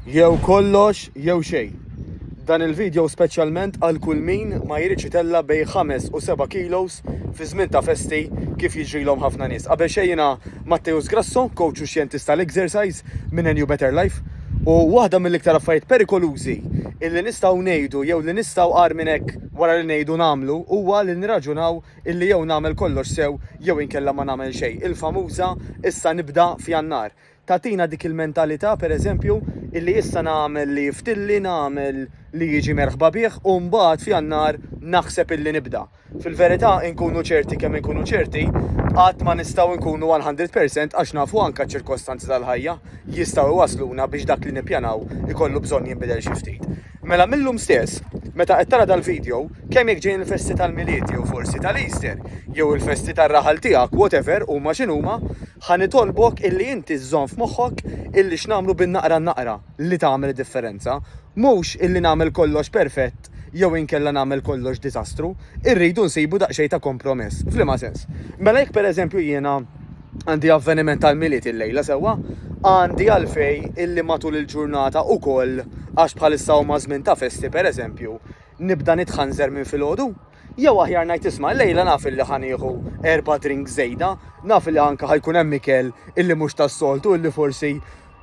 Jew kollox jew xejn. Dan il-video speċjalment għal kull min ma jridx itella' bejn ħames u seba' kilos fi żmien ta' festi kif jiġrilhom ħafna nies. Qabel xejn jiena Matteus Grasso, coach u xjentist tal-exercise minn NU Better Life u waħda mill-iktar affarijiet perikolużi illi nistgħu ngħidu jew li nistgħu agħar minn hekk wara li ngħidu nagħmlu huwa li nirraġunaw illi jew nagħmel kollox sew jew inkella ma nagħmel xejn, il-famuża issa nibda f'Jannar. Tagħtina dik il-mentalità, per eżempju, illi issa nagħmel li jiftilli, nagħmel li jiġi merħba bih u mbagħad f'Jannar naħseb illi nibda. Fil-verità, inkunu ċerti kemm inkunu ċerti, qatt ma nistgħu nkunu one hundred percent għax nafu anke ċ-ċirkostanzi tal-ħajja jistgħu jwassluna biex dak li nippjanaw ikollu bżonn jinbidel xi ftit. Mela mil-lum stess, meta qed tara dal-video, kemm jekk ġejjin il-festi tal-Milied jew forsi tal-Easter, jew il-festi tar-raħal tiegħek, whatever huma x'inhuma, Ħa nitolbok illi inti żżomm f'moħħok illi x'nagħmlu bin-naqra n-naqra li tagħmel id-differenza. Mhux illi nagħmel kollox perfett jew inkella nagħmel kollox diżastru. Irridu nsibu daqsxejn ta' kompromess. F'liema sens? Mela jekk pereżempju jiena għandi avveniment tal-Milied illejla, sewwa, għandi għalfejn illi matul il-ġurnata ukoll, għax bħalissa huma żmien ta' festi pereżempju, nibda nitħanżer minn filgħodu? Jew aħjar ngħid isma' llejla naf illi ħa nieħu erba' drinks żejda, naf illi anke ħa jkun hemm ikel illi mhux tas-soltu illi forsi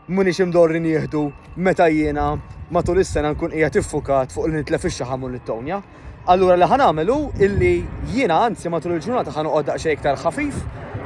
m'iniex imdorri nieħdu meta jiena matul is-sena nkun qiegħed iffukat fuq li nitlef ix-xaħam u nittownja. Allura li ħa nagħmel hu illi jiena anzi matul il-ġurnata ħa noqgħod daqsxejn iktar ħafif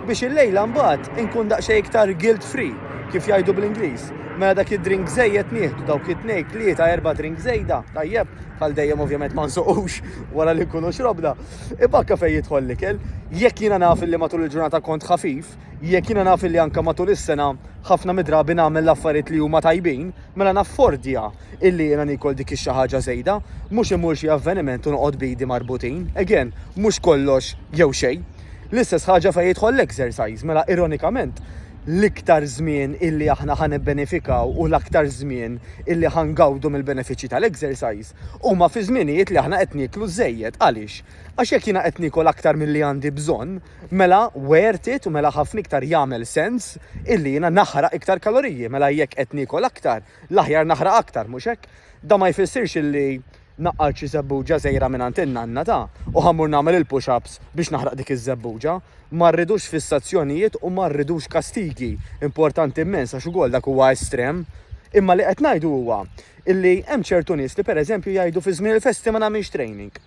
biex il-lejla mbagħad inkun daqsxejn iktar guilt free kif jgħidu bl-Ingliż. Mela dak id-drink żejjed nieħdu, dawk it-tnejn, tlieta, erba' drinks żejda, tajjeb, bħal dejjem ovvjament ma nsuqux. wara li nkunu xrobna, ibakka fejn jidħol l-ikel. Jekk jiena naf li matul il-ġurnata kont ħafif, jekk jiena naf li anke matul is-sena ħafna midrabi nagħmel l-affarijiet li huma tajbin, mela naffordja illi jiena niekol dik ix-xi ħaġa żejda, mhux immur xi avveniment u noqgħod b'idi marbutin. Again, mhux kollox jew xejn. L-istess ħaġa fejn jidħol l-exercise, mela ironikament, l-iktar żmien illi aħna ħa nibbenefikaw u l-aktar żmien illi ħa ngawdu mill-benefiċċji tal-exercise, Huma fi żminijiet li aħna qed nieklu żejjed. Għaliex? Għax jekk jiena qed niekol aktar milli għandi bżonn, mela worth it u mela ħafna iktar jagħmel sens illi jiena naħraq iktar kaloriji. Mela jekk qed niekol aktar, l-aħjar naħraq aktar, mhux hekk? Dan ma jfissirx illi naqqalt xi żebbuġa żgħira mingħand in-nanna, ta, u ħa mmur nagħmel il-push-ups biex naħraq dik iż-żebbuġa. Ma rridux fissazzjonijiet u ma rridux kastigi. Importanti immens għax ukoll dak huwa estrem. Imma li qed ngħidu huwa Illi hemm ċertu nies li pereżempju jgħidu fi żmien il-festi ma nagħmilx training.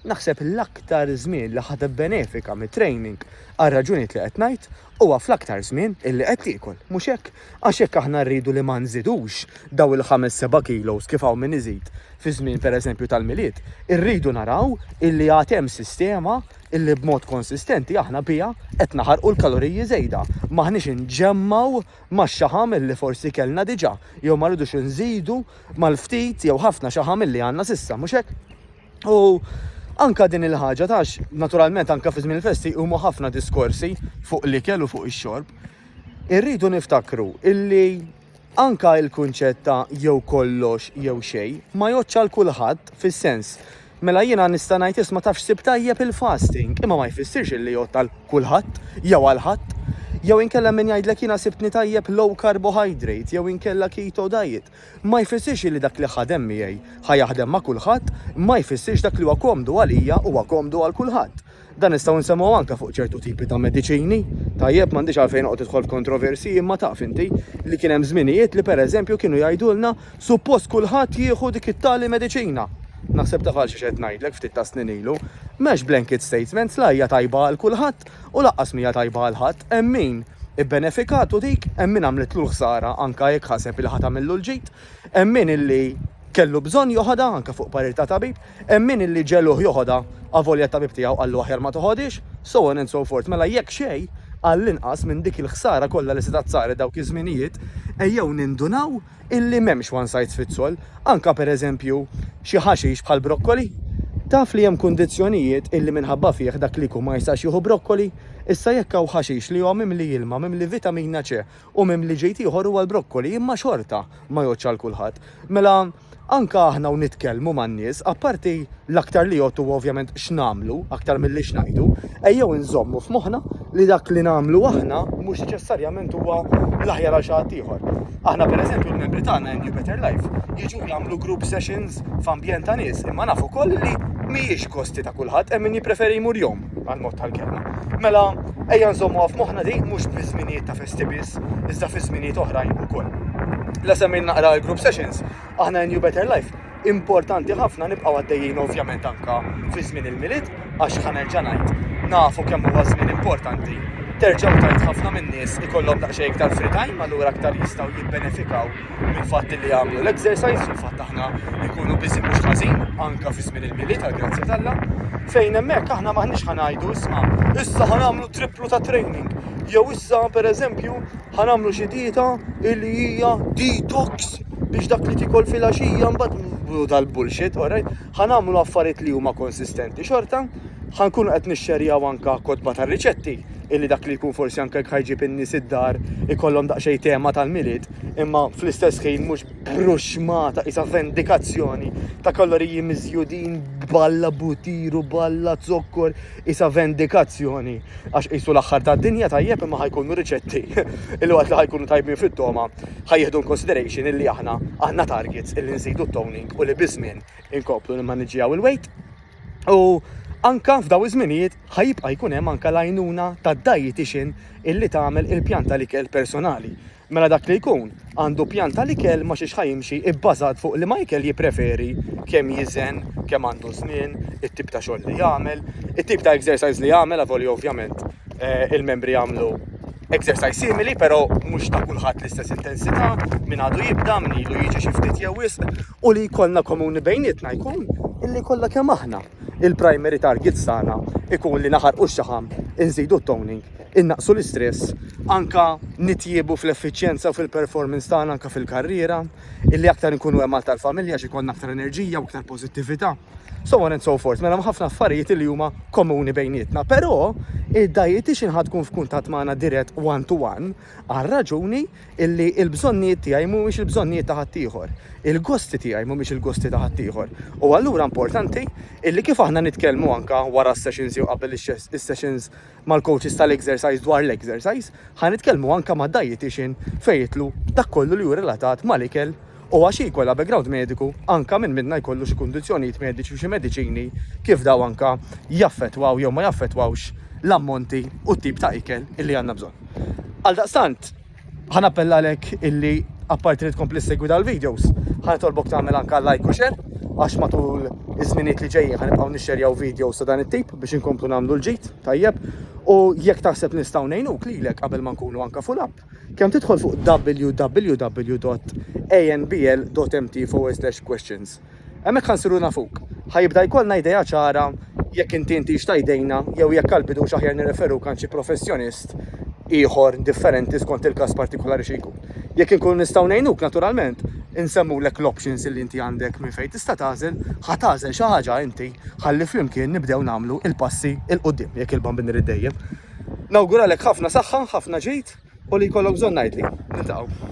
Naħseb l-aktar żmien li ħa tibbenefika mit-training għar-raġunijiet li qed ngħid huwa fl-aktar żmien illi qed tiekol, mhux hekk? Għax jekk aħna rridu li ma nżidux dawn il-ħames seba' kilos kif hawn min iżid fi żmien pereżempju tal-Milied, irridu naraw illi għad hemm sistema illi b'mod konsistenti aħna biha qed naħarqu l-kaloriji żejda, m'aħniex inġemmgħu max-xaħam li forsi kellna diġà jew ma rridux inżidu mal-ftit jew ħafna xaħam li għandna s'issa, mhux hekk? U anke din il-ħaġa tax naturalment anke fi żmien il-festi huma ħafna diskorsi fuq l-ikel u fuq ix-xorb. Irridu niftakru illi anke il-kunċett ta' jew kollox jew xejn ma jgħoddx għal kulħadd fis-sens Mela jiena nista' ngħid isma' taf x'sib tajjeb il-fasting imma ma jfissirx illi jgħodd għal kulħadd jew għal ħadd. Jew inkella min jgħidlek jiena sibtni tajjeb low carbohydrate jew inkella keto diet. Ma jfissirx illi dak li ħadem miegħi ħa jaħdem ma' kulħadd, ma jfissirx dak li huwa komdu għalija huwa komdu għal kulħadd. Dan nistgħu nsemgħu anke fuq ċertu tipi ta' mediċini, tajjeb m'għandix għalfejn noqgħod idħol f'kontroversi imma taf inti li kien hemm żminijiet li pereżempju kienu jgħidulna suppost kulħadd jieħu dik it-tali mediċina. Naħseb taf għal xiex qed ngħidlek ftit ta' snin ilu. M'hemmx blanket statements la hija tajba għal kulħadd u lanqas m'hija tajba għal ħadd, hemm min ibbenefikat u dik hemm min għamlitlu l-ħsara anke jekk ħaseb li ħa tagħmillu l-ġid, hemm min illi kellu bżonn joħodha anke fuq parir ta' tabib. Hemm min illi ġegħluh joħodha, avolja t-tabib tiegħu qallu aħjar ma toħodhiex, so on and so forth. Mela jekk xejn, għall-inqas minn dik il-ħsara kollha li setgħet saret dawk iż-żminijiet, ejjew nindunaw illi m'hemmx one size fits all. Anke pereżempju xi ħaxix bħall-brokkoli. Taf li hemm kundizzjonijiet illi minħabba fih dak li jkun ma jistax jieħu brokkoli? Issa jekk hawn ħaxix li huwa mimli ilma, mimli vitamina C u mimli ġid ieħor huwa l-brokkoli imma xorta ma jgħoddx għal kulħadd. Mela Anke aħna u nitkellmu man-nies, apparti l-aktar li jgħodd huwa ovvjament x'nagħmlu aktar milli x'ngħidu, ejjew inżommu f'moħħna li dak li nagħmlu aħna mhux neċessarjament huwa l-aħjar għal xi ħadd ieħor. Aħna pereżempju l-membri tagħna in New Better Life jiġu jagħmlu group sessions f'ambjent ta' nies imma naf ukoll li mhijiex gosti ta' kulħadd, hemm min jippreferi jmur jom. għal mod tal-kelma. Mela, ejja nżommu għaf moħna di, mux fi zminijiet ta' festi biss, iżda fi zminijiet oħrajn u koll. La semmin naqra l-group sessions, aħna in New Better Life, importanti ħafna nibqaw għaddejjin ovvjament anka fi żmien il-miliet, għax ħanerġa' ngħid, nafu kemm huwa żmien importanti. Terġgħu tajt ħafna min-nies ikollhom daqsxejn iktar free time, allura aktar jistgħu jibbenefikaw mill-fatt li għamlu l-exercise, fil-fatt aħna jkunu biżi mhux ħażin, anka fi żmien il-mili tal-grazzja tal fejn hemmhekk aħna maħniex ħanajdu isma' issa ħanamlu triplu ta' training. Jew issa pereżempju ħanamlu xi dieta li hija detox biex dak li tikol fil-għaxija mbagħad dal-bullshit, alright? Ħanamlu affarijiet li huma konsistenti xorta, ħankun qed nixxerjaw anka kotba tar-riċetti illi dak li jkun forsi anke ħajġib in-nies id-dar ikollhom daqsxejn tema tal-milied imma fl-istess ħin mhux bruxmata isa vendikazzjoni ta' kaloriji miżjudin balla butiru balla zokkor isa vendikazzjoni għax qisu l-aħħar tad-dinja tajjeb imma ħajkunu riċetti illi waqt li ħajkunu tajbin fit-toma ħajjeħdu consideration illi aħna għandna targets illi nżidu toning u li biżmien inkomplu nimmaniġġjaw il-weight u anka f'daw iż-żminijiet ħajibqa' jkun hemm anka l-għajnuna tad-dietitian illi tagħmel il-pjanta l-ikel personali Mela dak li jkun għandu pjan tal-ikel ma xiex ħa jimxi ibbażat fuq liema ikel jippreferi, kemm jiżen, kemm għandu żmien, it-tip ta' xogħol li jagħmel, it-tip ta' exercise li jagħmel avolja ovvjament il-membri jagħmlu exercise simili però mhux ta' kulħadd l-istess intensità, min għadu jibda, min ilu jiġi xi ftit jew wisq u li jkollna komuni bejnietna jkun illi kollha kemm aħna, il-primary targets tagħna ikun li naħarqu x-xaħam, inżidu t-toning, innaqsu l-istress, anka nitjiebu fl-effiċjenza u fil-performance tagħna anka fil-karriera, illi aktar nkunu hemm għal tal-familja xi jkollna aktar enerġija u aktar pożittività. So on and so forth, mela ħafna affarijiet li huma komuni bejnietna, però id-dajjetiċin ħad tkun f'kuntatt magħna dirett one to one għar-raġuni li l-bżonnijiet tiegħi mhumiex il-bżonnijiet ta' ħaddieħor, il-gosti tiegħi mhumiex il-gosti ta' ħaddieħor. U allura importanti li kif aħna nitkellmu anke wara s-sessions jew qabel is-sessions mal-coaches tal-exercise dwar l-exercise, ħa nitkellmu anke mad-dietician fejn jitlu dak kollu li hu relatat mal-ikel u għax hi jkollha background mediku anke min minnha jkollu xi kundizzjonijiet mediċi u xi mediċini kif dawn anke jaffettwaw jew ma jaffettwawx l-ammonti u t-tip ta' ikel illi għandna bżonn. Għaldaqstant, ħa nappella għalek illi apparti li tkompli segwi dawn il-videos, ħa nitolbok tagħmel anke like u share għax matul iż-żminijiet li ġejjin ħa nibqgħu nixxerjaw videos ta' dan it-tip biex inkomplu nagħmlu l-ġid tajjeb u jekk taħseb nistgħu ngħinuk lilek qabel ma nkunu anke full up, Kemm tidħol fuq www.anbl.mt/questions. Hemmhekk ħa nsiru nafuk. Ħa jibda jkollna idea ċara jekk inti intix ta' jdejna jew jekk għal bidux aħjar nirreferuk għand xi professjonist ieħor differenti skont il-każ partikulari xi jkun. Jekk inkunu nistgħu ngħinuk naturalment insemmulek l-options illi inti għandek minn fejn tista' tagħżel, ħa tagħżel xi ħaġa inti ħalli flimkien nibdew nagħmlu il-passi il quddiem jekk il-Bambin irid dejjem. Nawguralek ħafna saħħa, ħafna ġid u li jkollok bżonn ngħidli. Niltaqgħu.